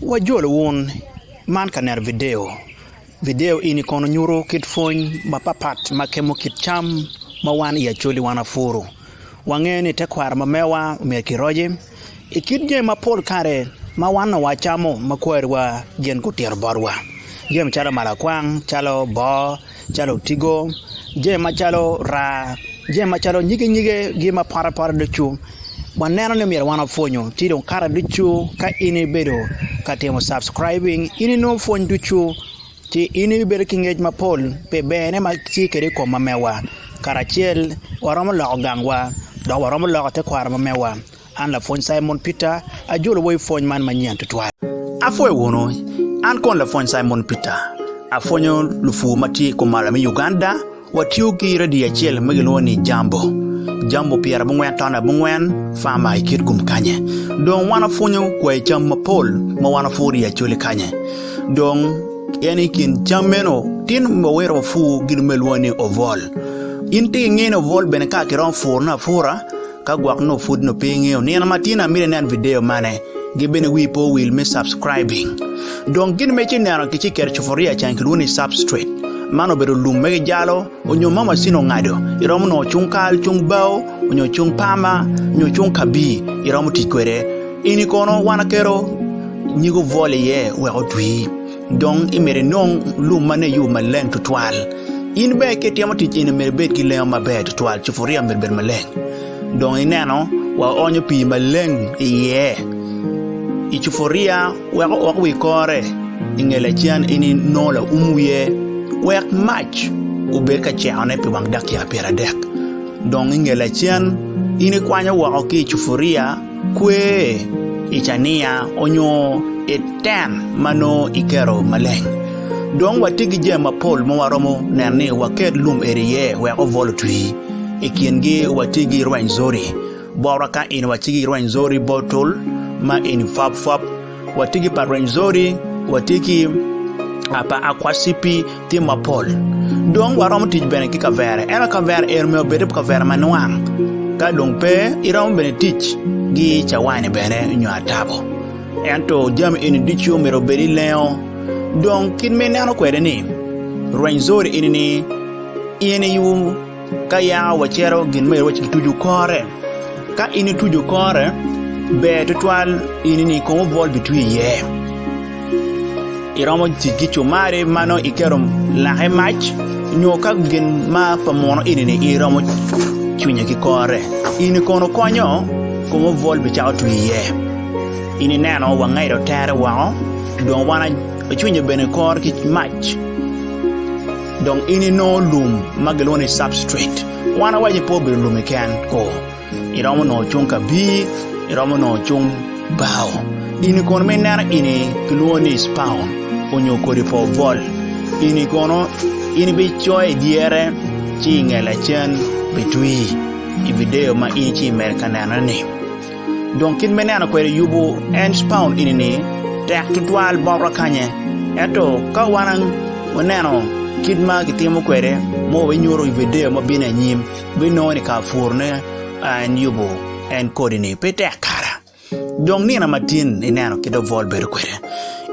Wajolo wun man ka neno vidio. Vidio eni kono nyuto kit pwony mapatpat ma kemo kit cam ma wan i Acholi wan wapuro. Wangeyo ni tekwaro ma mewa myero kiroce i kit jami mapol kare ma wan onongo wacamo ma kwariwa gin gutito botwa, jami calo malakwang, calo boo. calo otigo, jami macalo raa, jami macalo nyige nyige gi ma pote pote ducu waneno ni myero wan wapwonyo ci dong kare ducu ka in ibedo ka timo subscribing in inongo pwony ducu ci in ibedo ki ngec mapol pi berne ma tye kwede i kom mamewa kara acel waromo loko gangwa dok waromo loko tekwaro mamewa. An lapwony Cimon Peter, ajolowa i pwony man manyen tutwal. Apwoyo wunu. An kono lapwony Cimon Peter, apwonyo lupur ma tye i kumalo me Uganda. Watiyo ki redio acel ma gilwongo ni Jambo, Jambo pyera abongwen taun abongwen, Farmer i Kitgum kany-nyi. Dong wan wapwonyo kwayi cam mapol ma wan wapuro i Acholi kany-nyi. Dong en i kin cam meno tin wawito wapur gin ma gilwongo ni obwol. In tek ingeyo ni obwol bene ka kiromo purone apura, Ka gwok nongo pud nongo pe ingeyo nino ma tyen amito inen video mane, gi bene wii pe owil me subscribing. Dong gin ma ci neno ki ci keto cupuria can kilwongo ni substrate. Man obedo lum ma gijalo onyo ma macin ongado, iromo nongo cung kal, cung bao, onyo cung pama, nyo cung kabii iromo tic kwede. Ini kono wan aketo nyigo vol iye wek otwii. Dong myero inong lum ma nongo iyubo maleng tutwal. In bene ka itimo tic eni myero ibed ki lengo maber tutwal, cupuria myero obed maleng. Dong ineno waonyo pii maleng iye i cupuria wek ook wa i kore i nge lacen in inongo laum wiye wek mac obed ka cekone pi wang dakika pyeradek. Dong i nge lacen in ikwanyo woko ki i cupuria. Kwe i cania onyo i tent ma nongo iketo maleng. Dong watye ki jami mapol ma waromo neno ni waket lum eni iye wek obwol otwi. I kingi watye ki rweny zori, bot waka eni watye ki rweny zori bottle ma eni pwapwap. Watye ki pa Rwenzori, watye ki pa Akwasipi, tye mapol. Dong waromo tic bene ki kavere, ento kavere ero myero obed kavere ma nwang. Ka dong pe, iromo bene tic gi cawani bene nyo atabo. Ento jami eni ducu myero obed ilengo. Dong kit ma ineno kwede ni, Rwenzori eni ni in i Ka yaka wacito gin ma iwaco kituco kore, ka in ituco kore ber tutwal in ni kong obwol bitwi iye. Iromo tic ki cumari ma nongo iketo lake i mac nyo ka gin ma pa muno ini ni iromo cwinye ki kore in ni kono konyo kong obwol bicako twi iye. In ineno wangedo tere woko dong wan acwinyo bene kore ki mac. Dong in inongo lum ma gilwongo ni substrate. Wan awaco pe obedo lum keken ko. Iromo nongo cung kabir, iromo nongo cung bao. Gini kono ma ineno ini kilwongo ni spawn onyo kodi pa obwol. Ini kono in ibicoyo i dyere ci inge lacen bitwi i bideyo ma in ci imedo ka nenone-ni. Dong kit me neno kwede yubu Earnshpaun eni ni tek tutwal bot wakanye. Ento ka wan waneno kit ma kitimo kwede ma wabinyutu i video ma bino anyim, wabinongo ni ka puru ne a en yubu en kodi ni pe tek kara. Dong nino matin ineno kit obwol bedo kwede.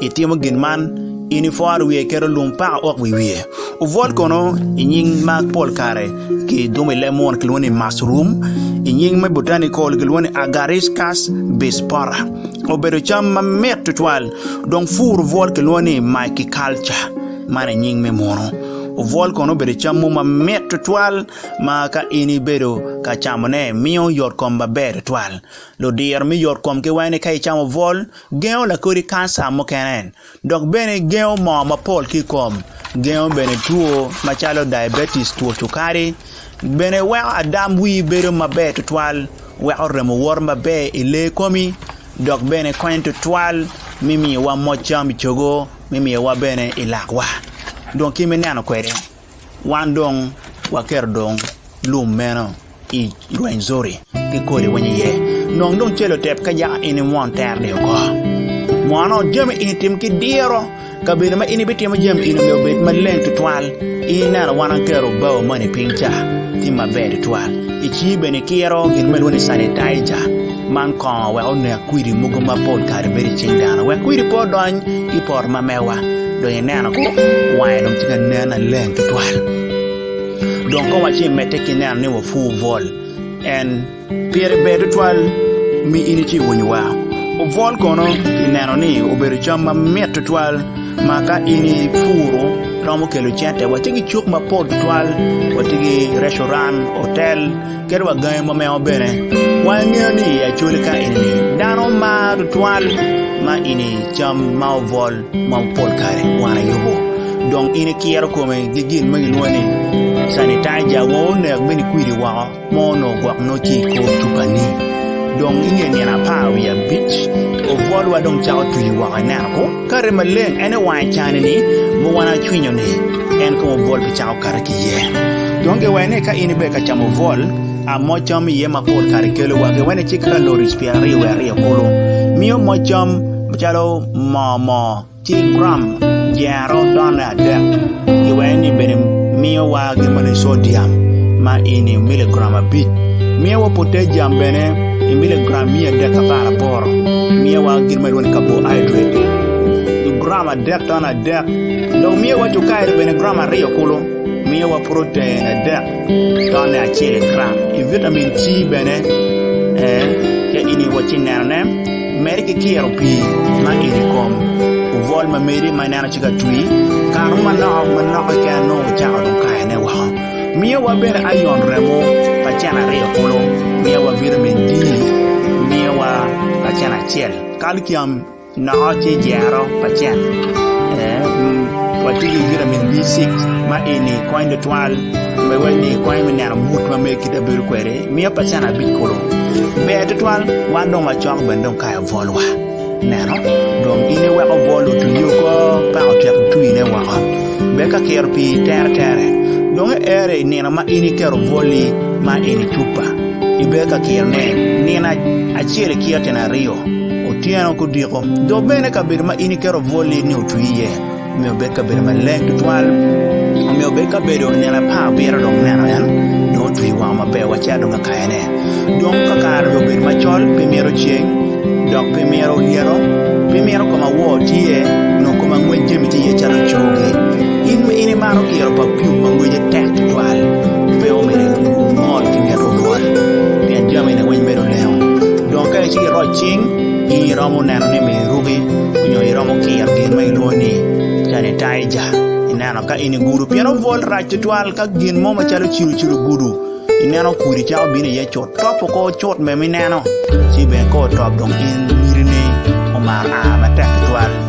I timo gin man, in iforo wiye iketo lum paka ok wi wiye. Obwot kono i nying ma pol kare ki dumo i leb muno kilwongo ni mushroom, i nying me botanical kilwongo ni Agaricus bispora. Obedo cam ma mit tutwal dong pur obwol kilwongo ni myciculture man i nying me muno. Obwol kono obedo cam mo ma mit tutwal ma ka in ibedo ka camone miyo yot kom maber tutwal. Ludiro me yot kom ki wene ka icamo obwol. Gengo lakodi kanca mukene, dok bene gengo moo mapol ki i kom. Gengo bene two macalo diabetes, two cukari. Bene weko adam wii bedo maber tutwal, weko remo woto maber i lee komi, dok bene konyo tutwal me miyowa moc cam i cogo, me miyowa bene i lakwa dong ki me neno kwede. Wan dong waketo dong lum meno i rweny zori ki kodi winyo iye. Nong dong calo otek ka yaka in imwon teroni oko. Mono jami eni tim ki diro kabedo ma in ibitimo jami eni myero obed maleng tutwal. Ineno wan aketo bao moni piny ca tye maber tutwal. Icii bene ikiro gin ma kilwongo ni sanitizer man kongo wek onek kwidi mogo mapol kare bedo i cing dano wek kwidi pe odony ki i poto ma mewa. Dong ineno ko, wange dong tye ka nen aleng tutwal. Dong ka wa ci imedde ki neno ni wapwu Vol, en pire ber tutwal mi in ici iwinyowa. Vol kono ineno ni obedo cam ma mit tutwal ma ka in ipuro romo kelo cente. Watye ki cuk mapol tutwal, watye ki recuran, otel. Kadi wa gangi ma mengo bene, wangeyo ni i acolika enini dano mar tutwal ma ini cam ma obwol ma pol kare wan ayubo dong ini kiro kome gi gin ma gilwongo ni sanitizer wa onek bene kwidi woko ma onongo gwok nongo tye i kor cupa ni dong inge nino apar wiye abic obwol wa dong cako tuyo woko ineno ko. Kare maleng en ewange cani ni ma wan acwinyo ni en kong obwol pi cako kare ki iye. Dong gewene ni ka in ibedo ka camo bwol, a moc cam iye ma pol kare kelowa gewene ci kaloris pye aryo wiye aryo kulu. Miyo moc cam macalo moo moo ci gram dyero done adek. Giweny-ni bene miyowa gin ma nining? Codiam ma ini miligram abic. Miyowa poteciam bene i miligram miya adek ki apar aboro. Miyowa gin ma ilwongo ni kaboaidret i gram adek taman adek. Dok miyowa cukairi bene gram aryo kulu. Miyowa purocen adek tone acel i gram. I vitamin C bene ee, ce ini wacci nenone. Medde ki kiro pii ma ito i kom ovol ma medi ma ineno ci ka twi, kano manok manok keken nongo icako dong kayone woko. Miyo wa bene ayon remo lacen aryo kulu, miyo wa vitamin D, miyo wa lacen acel kalcium noko ci ijero lacen watye ki vitamin B6 ma eni konyo tutwal ma weko konyo me neno mut ma medo kit ma ibedo kwede. Miya pacen abic kulu. Ber tutwal, wan dong wacok bene dong kayo bwolwa. Neno, dong in iweko bwol otwi oko peko otyeko twine woko. Ber ka kiro pii tere tere. Dong iero i nino ma in iketo bwoli ma eni cupa. Iber ka kirone nino acel ikiro tyene aryo, otyeno ki odiko. Dok bene kabedo ma in iketo bwoli ni otwi iye. Omiyo obed kabedo maleng tutwal. Omiyo obed kabedo nino apar abiro dong neno en dong otwi wango maber wa cito dong ka kayane. Dong ka kare dong obedo macol pe mito ceng dok pe mito olyelo, pe mito koma wor tye nyo koma ngwec jami tye iye calo cogi. In ma in imaro kiro pa pyum ma ngwece tek tutwal, pe omyero ingol ki nget olwal pien jamine weng medo lengo. Dong ka icito iroc cing, In iromo neno ni miruki onyo iromo kiro gin ma ilwongo ni sanitizer ineno ka in igudo pien obwol rac tutwal ka gin mo macalo cilo cilo ogudo ineno kudi cako bino iye cut top oko cut bene ineno ci bene ka otop dong in miti ni omar aa matek tutwal.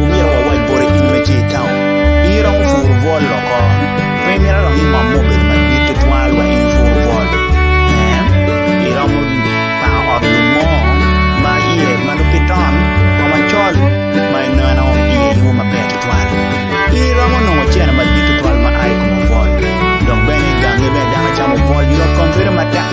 Omyero wawac boti in ma tye i taun. In iromo puru bwol woko? Pe imito dong ingom me obedo madit tutwal wek in ipur bwol? Ee, iromo pako ot lum mo ma iye ma nongo pe ton wa macol ma ineno iye yub maber tutwal. Iromo nongo cene madit tutwal ma a i kom obwol. Dok bene i gangi bene dano camo obwol yot kom bedo matek.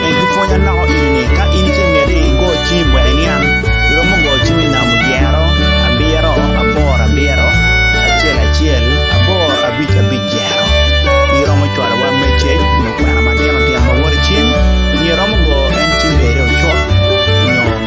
Peny ki pwonya loko eni ni, ka in ci imiti igo cim wek iniang, iromo go cim i namo dyero abiro aboro abiro acel acel aboro abic abic dyero. Iromo cwalo wa meceg nyo kwena matino tino ma wot i cim nyo iromo go en cim bede ocut nyo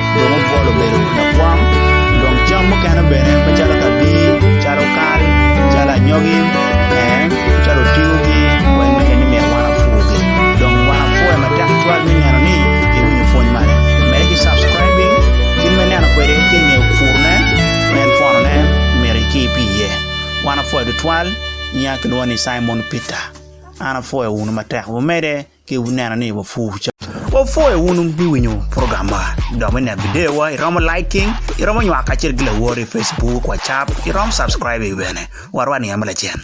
dong obwolo obedo lakwang dong cam mukene bene macalo kabir calo kal calo anyogi calo otigo gi weng me neno ni myero wan wapur gi dong wan wapwoyo matek tutwal me neno ni iwinyo pwony magi med ki subscribing kit me neno kwede ki nge pur ne ma en pwono ne myero iki pi iye wan wapwoyo tutwal nyinga kilwongo ni Cimon Peter an apwoyo wunu matek wumede. Ki wuneno ni wapur ca. Wapwo i wun wubiwinyo program ma dok me neno video wa i romo liking i romo nywak kacel ki lawor i Facebook, WhatsApp i romo subscribe i bene. Warwa ni ame lacen.